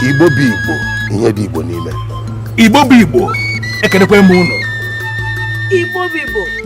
igbo bụ igbo ihe dị igbo n'ime igbo bụ igbo ekenekwa m ụnụ igbo bụ igbo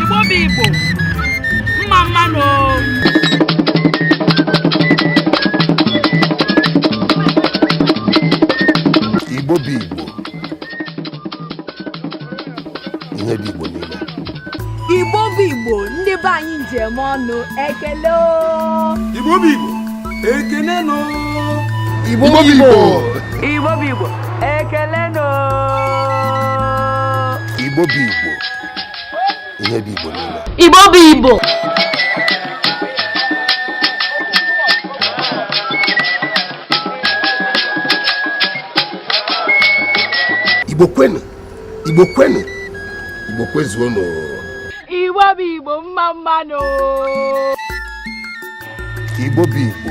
igbo bụ igbo mma mma nụ igbo bụ igbo ihe bụ igbo niile igbo bụ igbo ndị be anyị ji eme ọnụ ekele o. igbo bụ igbo ekene nụ igbo bụ igbo igbo bụ igbo ekele nụ Igbo bụ Igbo. Ihe bụ Igbo niile. Igbo bụ Igbo. Igbo kwenu. Igbo kwenu. Igbo kwezuonụ. Igbo bụ Igbo mma mma nụ. Igbo bụ Igbo.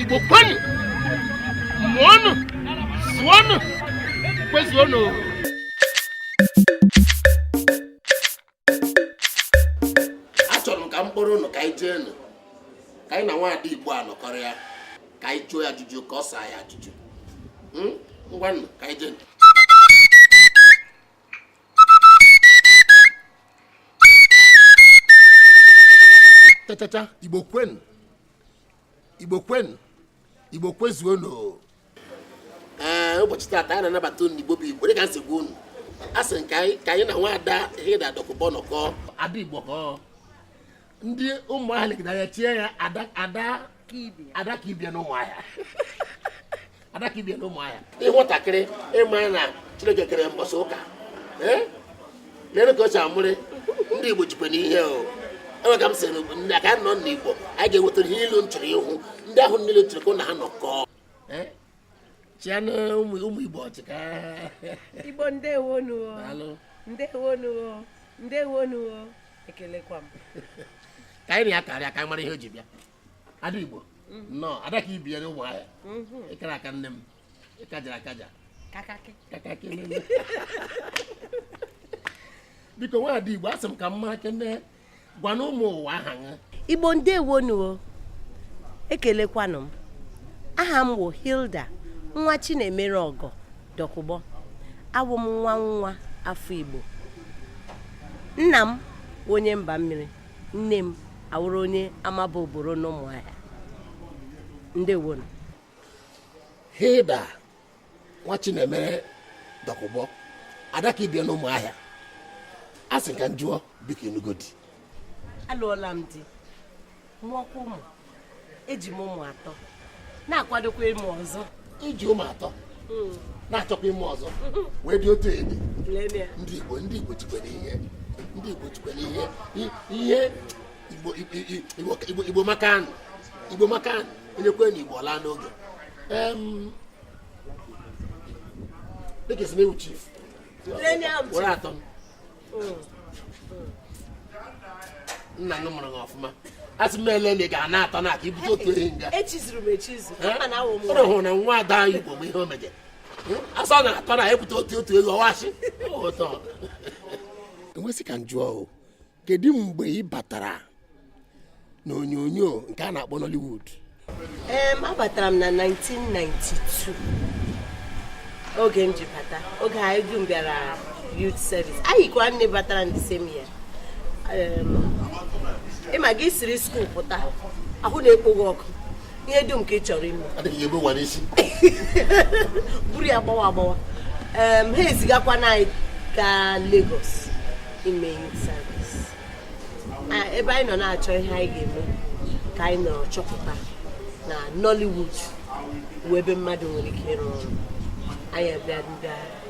igbo kwenu mụọnụ zụọnụ kwezuonụ achọrọ m ka m kpọrọ ụnụ ka anyị jee nụ ka anyị na nwaada igbo a nọkọrịa ka anyị jụọ ya ajụjụ ka ọ saa ya ajụjụ Hmm? ngwa nụ ka anyị jee nụ chachacha igbo kwenu igbo kwenu igbo kwezuonụ ee ụbọchị taata anyị na-anabata unu igbo bụ igbo dịka m si gwa unu asị m ka anyị na nwaada hilda dokubo nọkọ ada igbo ka ndị ụmụahịa legide anya chie ya ada ka ibe ya na ụmụahịa ada ka ibe ya na ụmụahịa ị hụ nwatakịrị ị mara na chineke kere mbọsị ụka lere ka o si amụrị ndị igbo jikwanụ ihe o enwe ka m sịrị ndị aka nọ n'igbo anyị ga-ewetara ihe unu chọrọ ịhụ ndị ahụ niile chọrọ ka na ha nọkọọ chianụ ụmụ ụmụ igbo ọchịka igbo ndewonu o daalụ ndewonu o ndewonu o ekelekwa m ka anyị na ya karịa ka anyị mara ihe o ji bịa ada igbo nnọọ ada ka ibe ya n'ụmụahịa ị kara aka nne m ị kajara akaja kakakị kaka kelele biko nwaada igbo asị m ka m marakene gwanụ ụmụ ụwa aha gị igbo ndewonu o ekelekwanụ m aha m wụ hilda nwa chinemere ọgọ dokubo awụ m nwa nwa afọ igbo nna m onye mba mmiri nne m awụrụ onye amaba oboro n'ụmụahịa ndewonu hilda nwa chinemere dokubo ada ka ibe ya na ụmụahịa a sị ka m jụọ biko ị nụgo di alụọla m di mụọkwa ụmụ eji m ụmụ atọ na-akwadokwa ịmụ ọzọ i ji ụmụ atọ hmm. na-achọkwa ịmụ ọzọ wee dị otu ị dị ndị igbo ndị igbo jikwere ihe ndị igbo jikwere ihe ihe igbo amakanụ igbo amakanụ onye kwe na igbo laa n'oge dịka esi na-ewu chief were atọ m nna mụrụ gị ọfụma a sị m ele na ị ga-ana atọ na aka ibute otu ehi nga ụrụ hụrụ na nwa ada anyị igbo bụ ihe o meje asọ na atọ na ebute otu otu ego ọwachi e wee sị ka m jụọ o kedu mgbe ị batara n'onyonyo nke a na-akpọ Nollywood em abatara m na 1992 oge m ji bata oge anyị dum bịara youth service anyị kwa nne batara in the same year ị ma gị siri skuul pụta ahụ na-ekpo gị ọkụ ihe dum ka ị chọrọ ime adịghị ebu ụwa n'isi buru ya gbawa agbawa Em, ha ezigakwana anyị gaa Lagos ime youth service Ah, ebe anyị nọ na-achọ ihe anyị ga-eme ka anyị nọ chọpụta na Nollywood wụ ebe mmadụ nwere ike ịrụ ọrụ anyị abịa ndị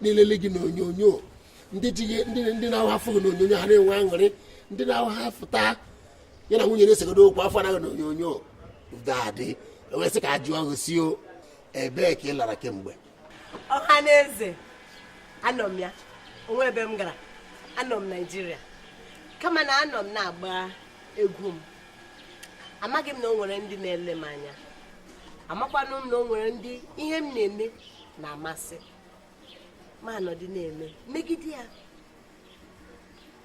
na-elele gị n'onyonyo ndị ji gị ndị ndị na-awụ ha fụ gị n'onyonyo ha na-enwe aṅụrị ndị na-awụ ha fụta ya na nwunye na-esegodo okwu a fụna gị n'onyonyo dadị wee sị ka a jụọ gị sị ọ ebee ka ị lara kemgbe ọha na eze anọ m ya o nwee ebe m gara anọ m naijiria kama na anọ m na-agba egwu m amaghị m na o nwere ndị na-ele m anya amakwanụ m na o nwere ndị ihe m na-eme na-amasị m anọdụ na-eme megide ya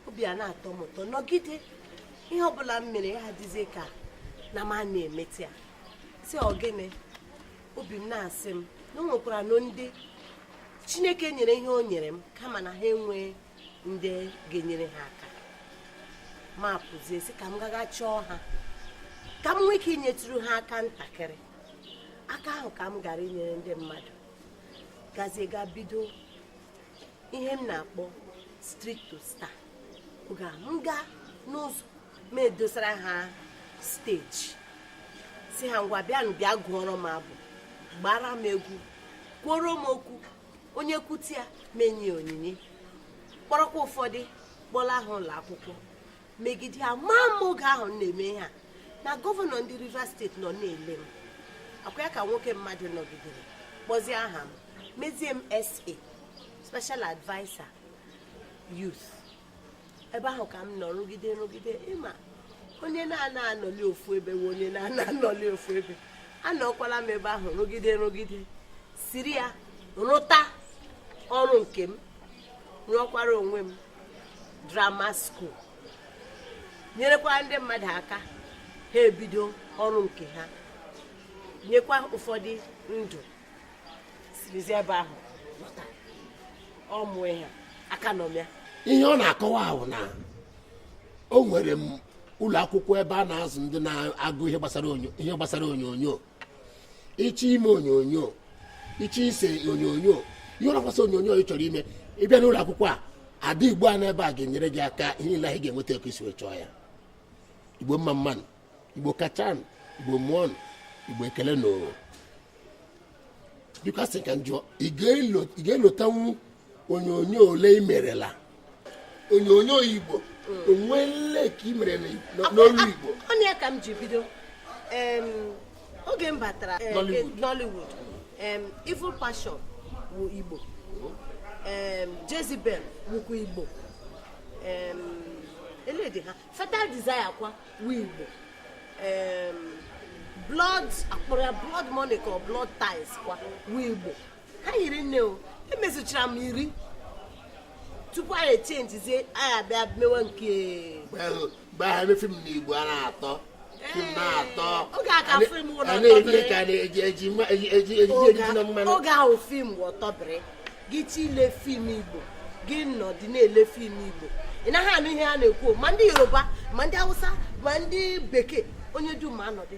obi ana-atọ m ụtọ nọgide ihe ọbụla m mere ya adịzie ka na m ana-emete ya sị ọ gịnị obi m na-asị m na o nwekwaranụ ndị chineke nyere ihe o nyere m kama na ha enwee ndị ga-enyere ha aka m apụzie sị ka m gaga chọọ ha ka m nwee ike inyetụrụ ha aka ntakịrị aka ahụ ka m gara inyere ndị mmadụ gazie ga bido ihe m na-akpọ street to star oge a m gaa n'ụzọ m edosara ha steji sị ha ngwa bịanụ bịa gụọrọ m abụ gbaara m egwu kwuoro m okwu onye kwute ya m enye ya onyinye kpọrọkwa ụfọdụ kpọlaa ha ụlọ akwụkwọ megide ya amaghị m oge ahụ m na-eme ihe a na gọvanọ ndị rivers steeti nọ na-ele m ọ kwa ya ka nwoke mmadụ nọgidere kpọzie aha m mezie m sa special adviser youth ebe ahụ ka m nọ rụgide rụgide ị ma onye na-anaghị anọli ofu ebe wụ onye na-anaghị anọli ofu ebe anọkwala m ebe ahụ rụgide rụgide siri ya rụta ọrụ nke m rụọkwara onwe m drama school nyerekwara ndị mmadụ aka ha ebido ọrụ nke ha nyekwa ụfọdụ ndụ sirizi ebe ahụ lọta ọmụ ihe aka nọ ya ihe ọ na-akọwa wụ na enwere m ụlọ akwụkwọ ebe a na-azụ ndị na-agụ ihe gbasara onyonyo ị chọọ ime onyonyo ị chọọ ise onyonyo ihe ọ bụla gbasara onyonyo ị chọrọ ime ị bịa n'ụlọ akwụkwọ ada igbo a nọ ebe a a ga-enyere gị aka ihe niile ahụ ị ga-enweta ka i si wee chọọ ya igbo mma mma nụ igbo kacha nụ igbo mụọ nụ igbo ekele nụ biko a sị ka m jụọ ị ga-elotanwu onyonyo ole i merela onyonyo igbo o nwere nke i mere n'olu igbo ọ nụ ya ka m ji bido oge m batara eh, eh, Nollywood Evil Passion wụ igbo Jezebel wụkwa igbo eledi ha Fatal Desire kwa wụ igbo blood a kpọrọ ya blood money ka blood ties kwa wụ igbo ha hiri nne o emezuchara m iri tupu anyị echenjizie anyị abịa mewe nke mgbe ahụ ebe fim na igbo a na-atọ fim na-atọ oge a ka fim ụlọ na-eji ka na-eji eji eji eji eji na mmanụ oge ahụ fim ọtọbịrị gị chi ile fim igbo gị nọdị na-ele fim igbo ị naghị anụ ihe a na-ekwu ma ndị yoruba ma ndị hausa ma ndị bekee onye dum ma anọdị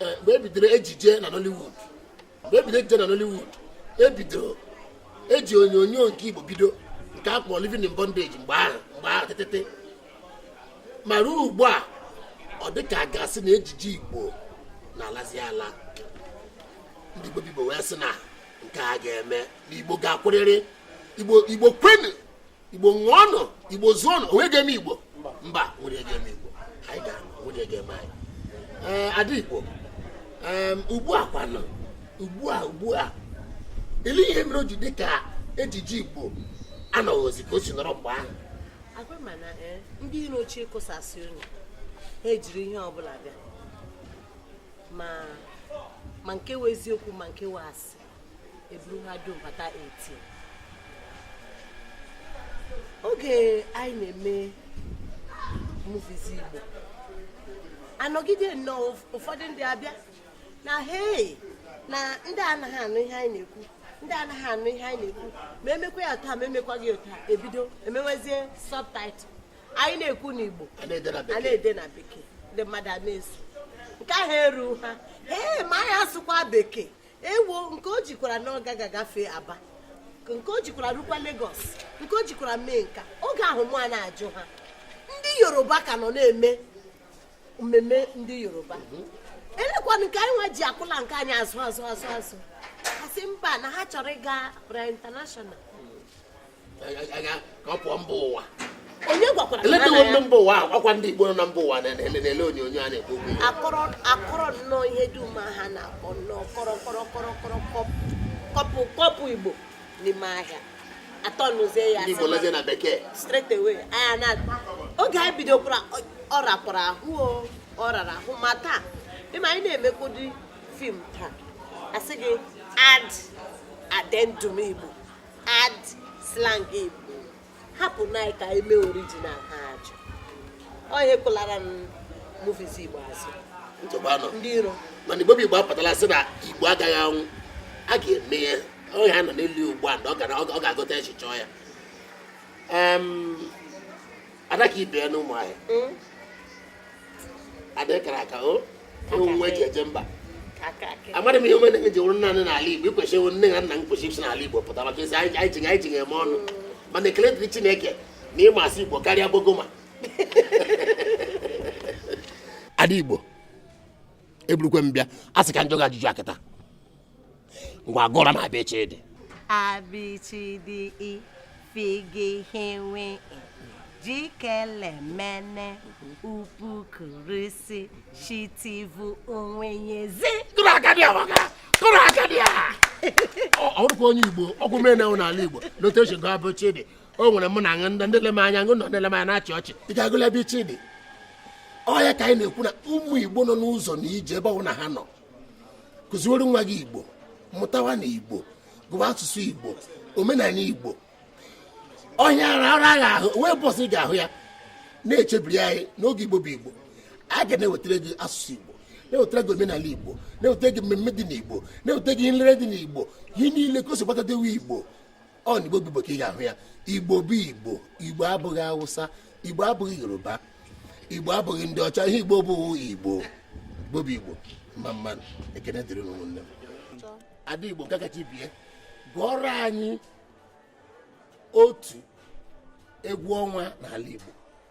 eh, mgbe ebidoro ejije na Nollywood mgbe ebidoro ejije na Nollywood ebidoro e ji onyonyo nke Igbo bido nke a kpọrọ Living in Bondage mgbe ahụ mgbe ahụ tetete ma ruo ugbu a ọ dị ka a ga-asị na ejije Igbo na-alazi ala ndị Igbo bụ Igbo wee sị na nke a agaghị eme na Igbo ga-akwụrịrị Igbo Igbo kwenu igbo ṅụọnụ igbo zụọnụ o nwe ihe ga-eme igbo mba nwere ga-eme igbo anyị ga nwere ga-eme anyị ee ada igbo ugbu a kwanụ ugbu a ugbu a ele ihe mere o ji dị ka ejije igbo anọghịzi ka o si nọrọ mgbe ahụ agwa ma na eh, ndị iro chọọ ịkụsasị unu ha ejiri ihe ọbụla bịa ma nke wụ eziokwu ma nke wụ asị eburu ha dum bata 18 oge anyị na-eme movies Igbo anọgide nnọọ ụfọdụ ndị abịa na hei na ndị anaghị anụ ihe anyị na-ekwu ndị anaghị anụ ihe anyị na-ekwu ma emekwa ya taa ma emekwaghị ya taa ebido emewezie subtitle anyị na-ekwu n'Igbo a na-ede na bekee ndị mmadụ a na-eso nke ahụ eru ha ee ma anyị asụkwa bekee ewo nke o jikwara na ọ gaghị agafe Aba nke o jikwara rukwa Lagos nke o jikwara mee nke a oge ahụ mụ a na-ajụ ha ndị Yoruba ka nọ na-eme mmemme ndị Yoruba mhm. elekwanụ nke anyị nwa ji akụla nke anyị azụ azụ azụ azụ ha asị mba na ha chọrọ ịga bụrụ international ka ọ pụọ mba ụwa onye gwakwara eletewo ndị mba ụwa ọkwa ndị Igbo nọ na mba ụwa na-ele onyonyo a na-ekwu okwu akọrọ akọrọ nnọọ ihe dum ha na-akọ nnọọ kọrọ kọrọ kọrọ kọrọ kọpụ kọpụ Igbo n'ime ahịa atọ n'ụzọ ya ndị Igbo lezie na bekee straight away anya na oge anyị bidokwara ọ rapụrụ ahụ ọ rara ahụ ma taa ị ma anyị na-emekwudi film taa asị gị add addendum Igbo add slang Igbo hapụnụ ka e mee original ha ajụ onye kụlara movies Igbo azụ ndị iro mana Igbo bụ Igbo apụtala sị na Igbo agaghị anwụ a ga-eme ya onye ha nọ n'elu ugbu a na ọ ga-aghọta echiche ya ada ka ibe ya na ụmụ ahịa hmm? ada kara aka ọ nwa e ji eje mba amadị m ihe o mere gị ji wụrụ nna nị n'ala igbo i kwesịrị ịwụ nne na nna m kwesị isi n'ala igbo pụta maka ezi anyị ji anyị ji eme ọnụ hmm. mana ekele dịrị chineke na ị ma asụ igbo karịa bogoma ada igbo eburukwa m bịa a sị ka m jụọ gị ajụjụ kịta ngwa gụọrọ m abịchịdị abịchịdị ifigihịnwe jikelemene upukurisi shitivu onwenyezi kụrụ aka dị ọmaka kụrụ aka dị a ọ bụkwa onye igbo ọgwụ mere na n'ala igbo lote otu esi gụọ abịchịdị o nwere mụ na ndị ndị le m anya ngụ nọ ndị le m anya na-achị ọchị ị ga-agụli abịchịdị ọ ya ka anyị na-ekwu na ụmụ igbo nọ n'ụzọ na ije ebe ọbụla ha nọ kụziwere nwa gị igbo mụtawa na igbo gụwa asụsụ igbo omenala igbo ọhịa ara ara agha ahụ wee bọsị ga-ahụ ya na-echebiri anyị n'oge igbo bụ igbo a ga na-ewetara gị asụsụ igbo na-ewetara gị omenala igbo na-ewetara gị mmemme dị n'igbo na-ewetara gị nlere dị n'igbo ihe niile o si gbatadewe igbo ọ na igbo bụ igbo ka ị ga-ahụ ya igbo bụ igbo igbo abụghị awụsa igbo abụghị yoruba igbo abụghị ndị ọcha ihe igbo bụ igbo igbo bụ igbo mma mma ekene dịrị nwanne m ada igbo nke kacha bịa gụọrọ anyị otu egwu ọnwa n'ala igbo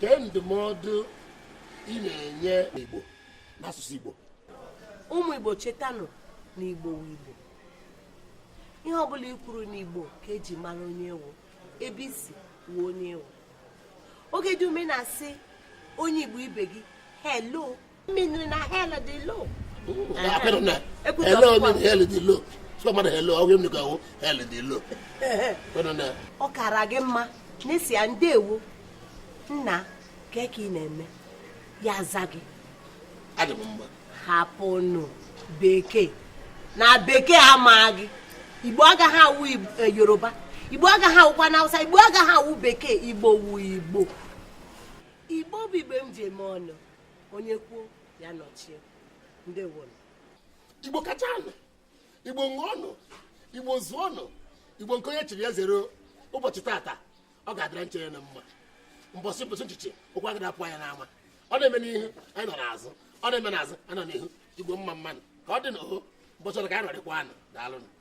kee ndụmọdụ ị na-enye Igbo n'asụsụ Igbo ụmụ Igbo chetanụ na Igbo wụ Igbo ihe ọbụla i kwuru n'Igbo ka e ji mara onye ị wụ ebe i si wụ onye ị wụ oge dum ị na-asị onye Igbo ibe gị hello mmiri na hell dị low apịrị na ele onye na hell dị low sọ mmadụ hello ọgwụ m nụka hell dị low ọ kara gị mma na ị sị ya ndewo nna kee ka ị na-eme ya za gị hapụnụ bekee na bekee amaghị gị igbo agaghị awụ yoruba igbo agaghị awụkwa na hausa igbo agaghị awụ bekee igbo wu igbo igbo bụ igbo m ji eme ọnụ onye kwuo ya nọchie ndewo igbo kachaanụ igbo ṅụọnụ igbo zụọnụ igbo nke onye chiri ya zere ụbọchị tata ọ ga-adịra nche ya na mma mbọsị mbọsị nchichi ụkwụ agada apụ anya n'ama ọ na-eme n'ihu anyị nọ n'azụ ọ na-eme n'azụ anyị nọ n'ihu igbo mma mmanụ ka ọ dị na oho mbọchị ọrụ ka anyị nọrịkwanụ daalụnụ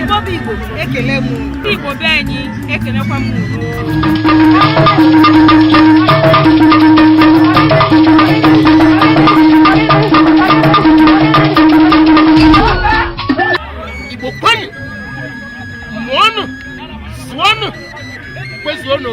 Igbo bụ Igbo ekele m Igbo be anyị ekelekwa m Igbo kwenu mụọnụ zụọnụ kwezuonụ